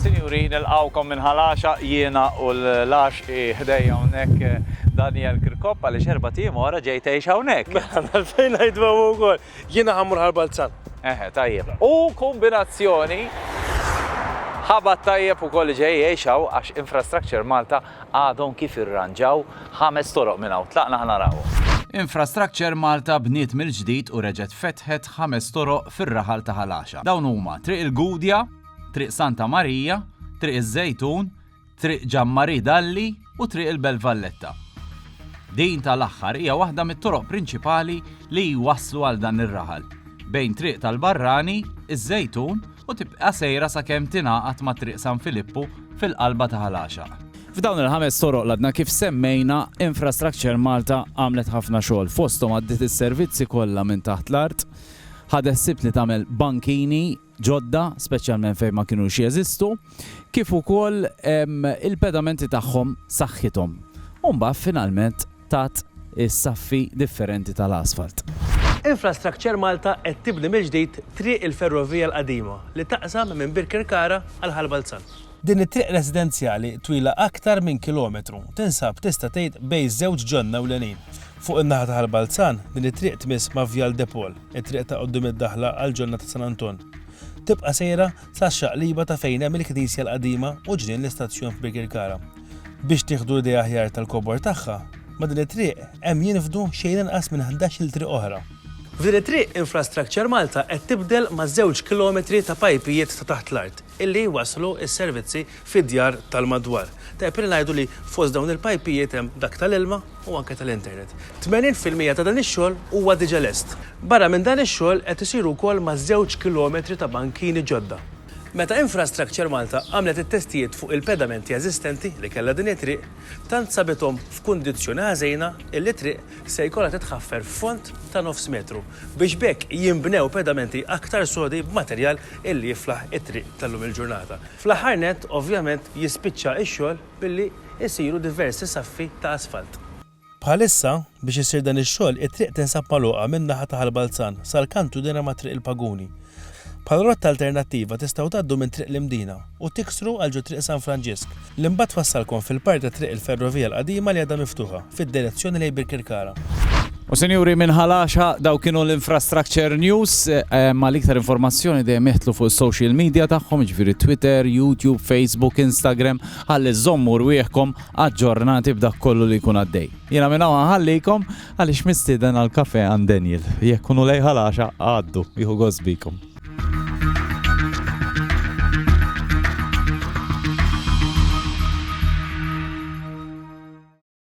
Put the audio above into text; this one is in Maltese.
Sinjuri, nilqgħukom minn Ħal Għaxaq, jiena u l-għaxqi ħdejja hawnhekk Daniel Kirkop għaliex erbat ijiem wara ġej tgħix hawnhekk. Mela, għalfejn ngħidu hemm hu wkoll. Jiena ħammur Ħal Balzan. Eħe, tajjeb. U kombinazzjoni ħabad tajjeb ukoll li ġej jgħix hawn għax Infrastructure Malta Għadhom kif irranġaw ħames toroq minn hawn. Tlaqna ħa narawhom. Infrastructure Malta bniet mill-ġdid u reġgħet fetħet ħames toroq fir-raħal ta' Ħal Għaxaq. Dawn huma Triq il-Gudja, Triq Santa Marija, Triq iż-Żejtun, Triq Gian Marie Dalli u Triq il-Belt Valletta. Din tal-aħħar hija waħda mit-toroq prinċipali li jwasslu għal dan ir-raħal bejn Triq tal-Barrani, iż-Żejtun, u tibqa' sejra sakemm tingħaqad ma' Triq San Filippu fil-qalba ta' Ħal Għaxaq. F'dawn il-ħames toroq l-għadna kif semmejna, Infrastructure Malta għamlet ħafna xogħol, fosthom għaddiet is-servizzi kollha minn taħt l-art, ħadet ħsieb li tagħmel bankini ġodda, speċjalment fejn ma kinux jeżistu, kif ukoll il-pedamenti tagħhom saħħithom. U mbagħad finalment, taht is-saffi differenti tal-asfalt. Infrastructure Malta qed tibni mill-ġdid Triq il-Ferrovija l-Qadima li taqsam minn Birkirkara għal Ħal Balzan. Din it-triq residenzjali twila aktar minn kilometru tinsab tista' tgħid bejn żewġ ġonna ewlenin. Fuq in-naħa ta' Ħal Balzan, din it-triq tmiss ma' Vjal de Paul, it-triq ta' quddiem id-daħla għall-ġonna ta' San Anton. Tibqa' sejra sas-xaqliba ta' fejn hemm il-knisja l-qadima u ġnien l-istazzjon f'Birkirkara. Biex tieħdu idea aħjar tal-kobor tagħha, ma' din it-triq hemm jinfdu xejn inqas minn ħdax-il triq oħra. F'din it-triq Infrastructure Malta qed tibdel ma' żewġ kilometri ta' pajpijiet ta' taħt l-art illi jwasslu s-servizzi fid-djar tal-madwar. Tajjeb li ngħidu li fost dawn il-pajpijiet hemm dak tal-ilma u anke tal-internet. Tmenin fil-mija ta' dan ix-xogħol huwa diġà lest. Barra minn dan ix-xogħol qed isir ukoll ma' żewġ kilometri ta' bankini ġodda. Meta Infrastructure Malta għamlet it-testijiet fuq il-pedamenti eżistenti li kellha din it-triq, tant sabithom f'kundizzjoni ħażina illi t-triq se jkollha titħaffer f'fond ta' nofs metru biex b'hekk jinbnew pedamenti aktar sodi b'materjal illi jiflaħ it-triq tal-lum il-ġurnata. Fl-aħħar nett, ovvjament, jispiċċa x-xogħol billi jsiru diversi saffi ta' asfalt. Bħalissa, biex isir dan ix-xogħol, it-triq tinsab magħluqa min-naħa ta' Ħal Balzan sal-kant u dehra ma' Triq il-Paguni. Bħala rotta alternattiva tistgħu tgħaddu minn Triq l-Imdina u tiksru għal ġo Triq San Franġisk, li mbagħad twassalkom fil-part ta' Triq il-Ferrovija l-Qadima li għadha miftuħa. fid-direzzjoni lejn Birkirkara. U sinjuri minn ħalaxa daw kienu l-Infrastructure News ma l-iktar informazzjoni dejjem jeħtlu fuq social media tagħhom ġifieri Twitter, YouTube, Facebook, Instagram ħalli żommu rwieħkom aġġornati b'dak kollu li jkun għaddej. Jiena minn hawn ħallikom għaliex mistieden għal kafe għand Daniel. Jekk kunu lej ħalaxa għaddu jieħu gost bikom.